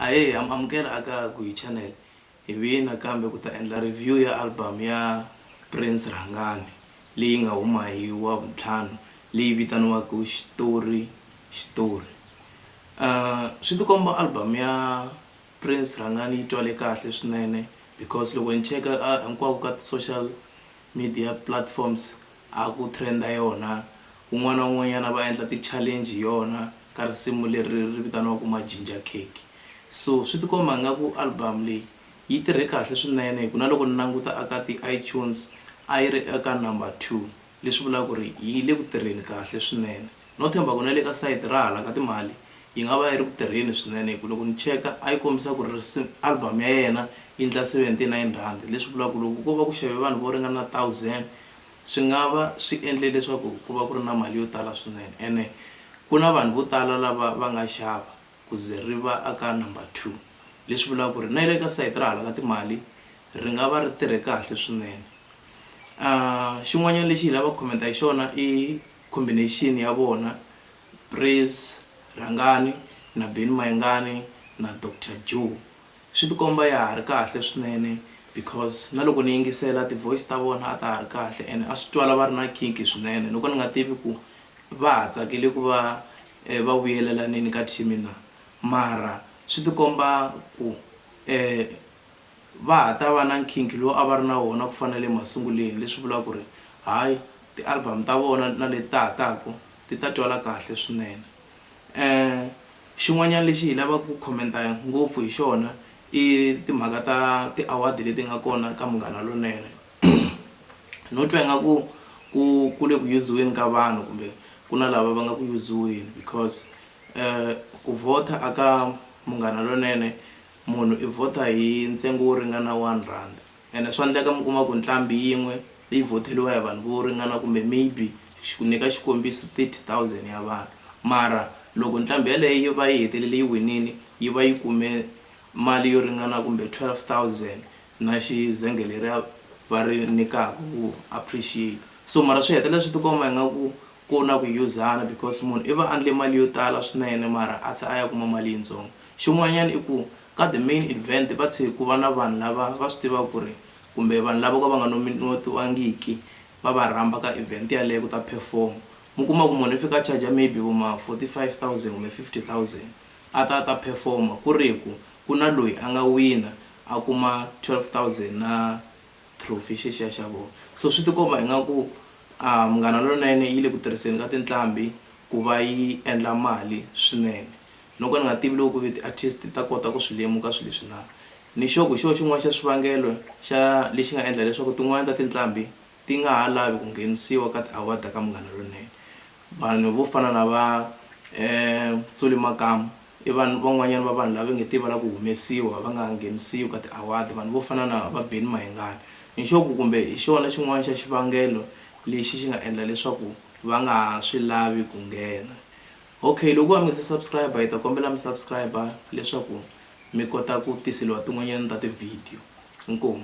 ahee am amukela aka guyi channel hi vina kambe ku ta endla review ya album ya prince rhangani leyi nga huma hi wa vuntlhanu leyi vitaniwaka xitori xitori um swi tikomba album ya prince rhangani yi twale kahle swinene because loko ni cheka hinkwako ka ti-social media platforms a ku trend-a yona, un'wana na un'wanyana va endla ti challenge hi yona ka risimu leri ri vitaniwaka Majinja Cake. So swi tikomba nga ku album leyi yi tirhe kahle swinene hi ku na loko ni languta a ka ti iTunes a yi ri eka number two leswi vulaka ku ri yi le ku tirheni kahle swinene. No tshemba ku na le ka sayiti ra hala ka timali yi nga va yi ri ku tirheni swinene hi ku loko ni cheka a yi kombisa ku ri album ya yena yi ndla R79, leswi vulaka ku loko ko va ku xave vanhu vo ringana 1000 swi nga va swi endle leswaku ku va ku ri na mali yo tala swinene ene ku na vanhu vo tala lava va nga xava ku ze ri va aka number two leswi vulaka ku ri na le ka sayiti ra hala ka timali ri nga va ri tirhe kahle swinene. Xin'wanyana lexi hi lavaka ku comment-a hi xona i Combination ya vona, Praise Rhangani na Benny Mayengani na Doctor Joe swi tikomba ya ha ri kahle swinene because na loko ni yingisela ti voice ta vona a ta ha ri kahle and a swi twala va ri na nkhinkhi swinene no ka ni nga tivi ku va ha tsakele ku va va vuyelelanini ka team na mara swi tikomba ku . Va ha ta va na nkhinkhi lowu a va ri na wona ku fana na le masunguleni, leswi vulaka ku ri, Hayi, tialbamu ta vona na leti ta ha taka ti ta twala kahle swinene. E Xin'wanyana lexi hi lavaka ku khomenta ngopfu hi xona i timhaka ta ti-award leti nga kona ka Munghana Lonene. No twa ingaku ku ku le ku yuziweni ka vanhu kumbe ku na lava va nga ku yuziweni because ku vhotha a ka Munghana Lonene Munhu i vhota hi ntsengo wo ringana one rand ene swa ndleka mi kuma ku nqambi yin'we yi vhoteriwa hi vanhu vo ringana kumbe maybe xi ku nyika xikombiso thirty thousand ya vanhu mara loko nqambi yaleyo yi va yi hetelele yi winile yi va yi kume mali yo ringana kumbe twelve thousand na xizenge leriya va ri nyikaka ku appreciate so mara swi hetelela swi tikomba ingaku ku na ku yuzana because munhu i va a endle mali yo tala swinene mara a tlhe a ya kuma mali yitsongo Xin'wanyana i ku ka the main event va thse ku va na vanhu lava va swi tivaka ku ri kumbe vanhu lava vo ka va nga nominotiwangiki va va rhamba ka event yaleyo ku ta perform. Mi kuma ku munhu i fika a charger maybe vo ma forty five thousand kumbe fifty thousand a ta a ta perform ku ri hi ku ku na loyi a nga wina a kuma twelve thousand na trophy xexiya xa vona. So swi tikomba ingaku Munghana Lonene yi le ku tirhiseni ka tinqambi ku va yi endla mali swinene. Loko ni nga tivi loko ku ve tiartist ti ta kota ku swi lemuka swilo leswi na, ni sure ku hi xona xin'wana xa swivangelo xa lexi nga endla leswaku tin'wana ta tinqambi ti nga ha lavi ku nghenisiwa ka ti-award ta ka Munghana Lonene. Vanhu vo fana na va Solly Makamu i vanhu van'wanyana va vanhu lava nge te va lava ku humesiwa va nga ha nghenisiwi ka ti-award. Vanhu vo fana na va Benny Mayengani ni sure ku kumbe hi xona xin'wana xa xivangelo lexi xi nga endla leswaku va nga ha swi lavi ku nghena. Ok loko wa ngase subscriber hi ta kombela mi subscriber leswaku mi kota ku tiseliwa tin'wanyana ta ti video inkomu.